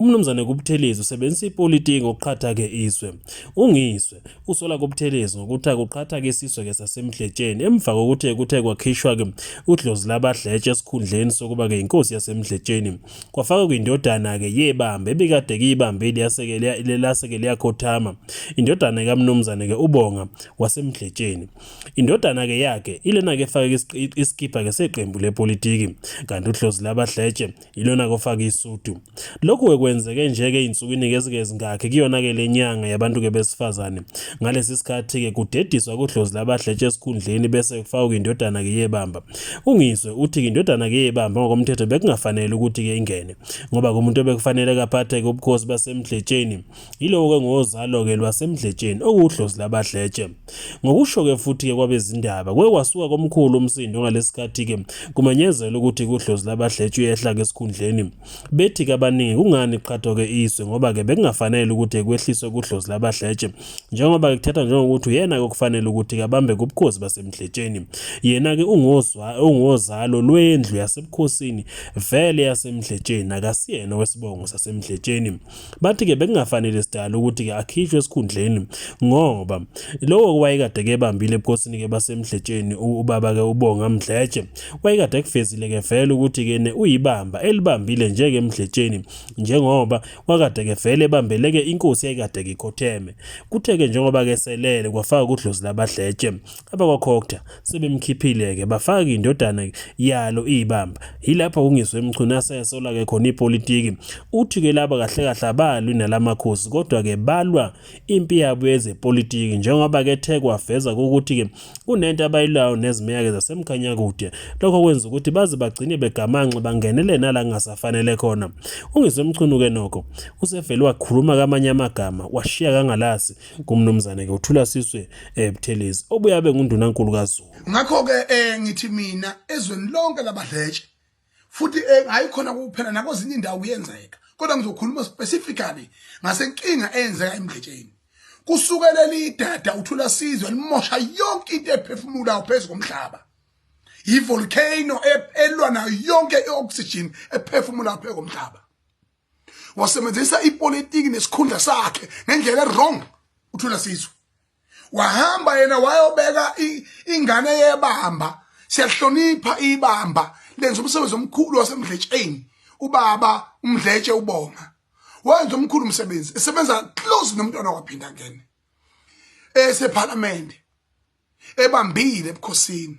UMnumzane kuButhelezi usebenzisa ipolitiki ngokuqhatha-ke izwe. UNgizwe usola kuButhelezi ngokuthi akuqhatha-ke isizwe-ke saseMdletsheni emva kokuthi kuthe kwakhishwa-ke udlozi labadletshe esikhundleni sokuba-ke yinkosi yaseMdletsheni. Kwafakwa kwindodana-ke yebamba ebikade kiyibamba elase-ke liyakhothama. Indodana kaMnumzane-ke uBonga waseMdletsheni. Indodana-ke yakhe ilena-ke efake isikibha-ke seqembu lepolitiki kanti udlozi labadletshe yilona kofaka isudu lokhu-ke kwenzeke nje-ke iy'nsukwini-ke ezike zingakhi kuyona-ke le nyanga yabantu-ke besifazane ngalesi sikhathi-ke kudediswa kudlozi labahletshe esikhundleni bese kufakwa indodana-ke yebamba ungizwe uthi-ke indodana-ke yebamba ngokomthetho bekungafanele ukuthi-ke ingene ngoba kumuntu obekufanele kaphathe-ke ubukhosi basemdletsheni Yiloko-ke ngozalo-ke lwaseMdletsheni okuwudlozi labaDletshe. Ngokusho-ke futhi-ke kwabezindaba, kuke kwasuka komkhulu umsindo ngalesikhathi-ke kumenyezelwa ukuthi kudlozi labaDletshe uyehla-ke esikhundleni. Bethi-ke abaningi kungani kuqhathwa-ke iswe ngoba-ke bekungafanele ukuthi kwehliswe kudlozi labaDletshe njengoba-ke kuthathwa njengokuthi uyena-ke okufanele ukuthi-ke abambe kubukhosi baseMdletsheni. Yena-ke ungozalo lwendlu yasebukhosini vele yaseMdletsheni akasiyena wesibongo saseMdletsheni. Bathi ke bekungafanele sidala ukuthi ke akhishwe esikhundleni ngoba lowo wayekade kebambile ebukhosini ke basemdletsheni ubaba ke ubonga mdletshe wayekade kufezile ke vele ukuthi ke ne uyibamba elibambile nje ke emdletsheni njengoba wakade ke vele ebambeleke inkosi yayikade ikhotheme kuthe ke njengoba ke selele kwafaka kudlozi labadletshe Abakwakhokta sebemkhiphile-ke bafaka indodana yalo iyibamba. Yilapho kungiswe Mchunu asesola-ke khona ipolitiki. Uthi-ke laba kahle kahle abalwi nala makhosi kodwa-ke balwa impi yabo yezepolitiki njengoba ke the kwaveza ukuthi-ke kunento abayilwayo nezimeya-ke zasemkhanyakude. Lokho kwenza ukuthi baze bagcine begamanxe bangenele nala kungasafanele khona. Ungiswe Mchunu-ke nokho usevele wakhuluma kamanye amagama washiya kangalasi kumnumzane ke uthula siswe eh, Buthelezi obuyabe ngundunankulu kaZulu ngakho ke eh, ngithi mina ezweni lonke labadletshe futhi eh, ayikhona kuphela nakwezinye indawo kuyenzeka kodwa ngizokhuluma specifically ngasenkinga eyenzeka emdletsheni kusukela lidada uthula sizwe limosha yonke into ephefumulayo phezu komhlaba yivolcano e-, elwa nayo yonke i-oxygen ephefumulayo phezu komhlaba wasebenzisa ipolitiki nesikhundla sakhe ngendlela wrong uthula sizwe wahamba yena wayobeka ingane yebamba siyahlonipha ibamba lenza umsebenzi omkhulu wasemdletsheni ubaba umdletshe ubonga wenza omkhulu umsebenzi esebenza close nomntwana waphinda ngene esephalamende ebambile ebukhosini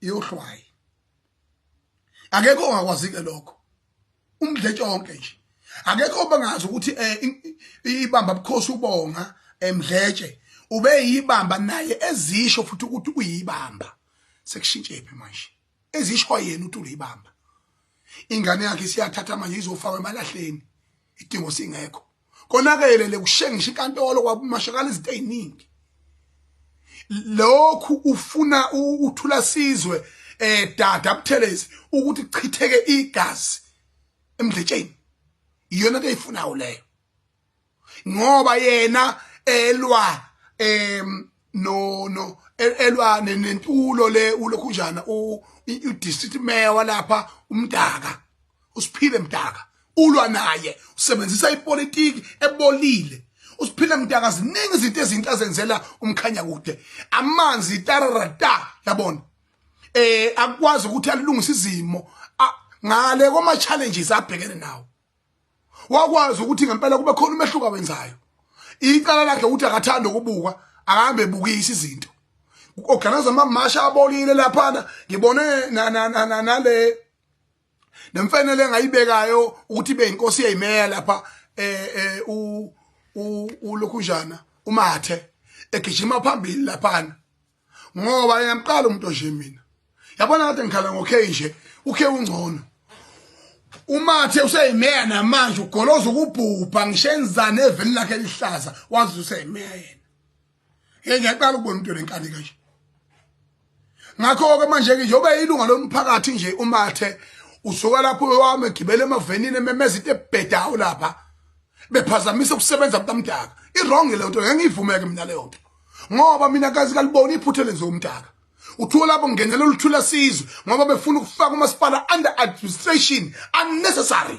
yohlwayi akekho ongakwazi ke lokho umdletshe wonke nje akekho obangazi ukuthi eh, ibamba bukhosi ubonga emdletshe eh, ube yibamba naye ezisho futhi ukuthi uyibamba sekushintshe phi manje ezisho yena uthi uyibamba ingane yakhe siyathatha manje izofakwa emalahleni idingo singekho konakele lekushengisha inkantolo kwamashakala izinto eziningi lokhu ufuna uthula sizwe eh dada buthelezi ukuthi chitheke igazi emdletsheni iyona ke ifunayo leyo ngoba yena elwa em no no elwa nentulo le ulokhunjana u district mayor walapha umdaka usiphile mdaka ulwa naye usebenzisa ipolitiki ebolile usiphile mdaka ziningi izinto ezinto azenzela umkhanya kude amanzi tararata yabona eh akwazi ukuthi alungise izimo ngale koma challenges abhekene nawo wakwazi ukuthi ngempela kube khona umehluko awenzayo icala lakhe ukuthi akathanda ukubuka akahambe ebukisa izinto organize amamasha abolile laphana ngibone nale nemfenele engayibekayo ukuthi ibe inkosi yeyimeya lapha eh, eh u ulokhunjana umathe egijima phambili laphana ngoba yamqala umuntu nje mina yabona kade ngikhala ngokhe nje ukhe ungcono umathe useyimeya namanje ugoloza ukubhubha ngisho enzane eveni lakhe lihlaza wazi useyimeya yena hey ngiyaqala ukubona umuntu lenkani kanje ngakho ke manje ke njengoba ilunga lomphakathi nje umathe usuka lapho wami egibele emavenini ememeza into ebhedayo lapha bephazamisa ukusebenza kukamdaka iwrong le nto ngengiyivumeke mina leyo nto ngoba mina kazi kalibona iphutha lenziwa umdaka uthiwa lapho ngenela oluthula sizwe ngoba befuna ukufaka umasipala under administration unnecessary